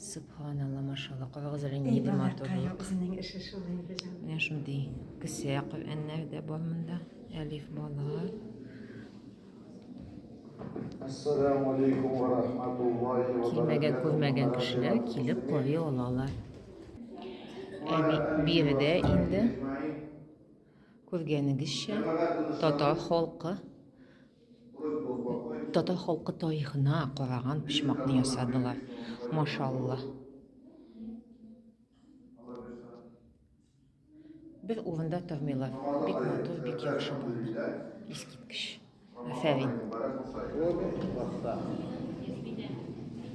Субханалла, машалла, кавагыз әле нинди матурлык. Менә шундый кесә Коръәннәр дә бар монда. Әлиф балалар. Ассаламу алейкум ва рахматуллахи ва баракатуһу. Килмәгән, күрмәгән кешеләр килеп карый алалар. Әби биредә инде күргәнегезчә татар халкы Татар халкы тарихына караган почмакны ясадылар. Машалла. Бер урында тормыйлар. Бик матур, бик яхшы булды. Искиткеч. Афәрин.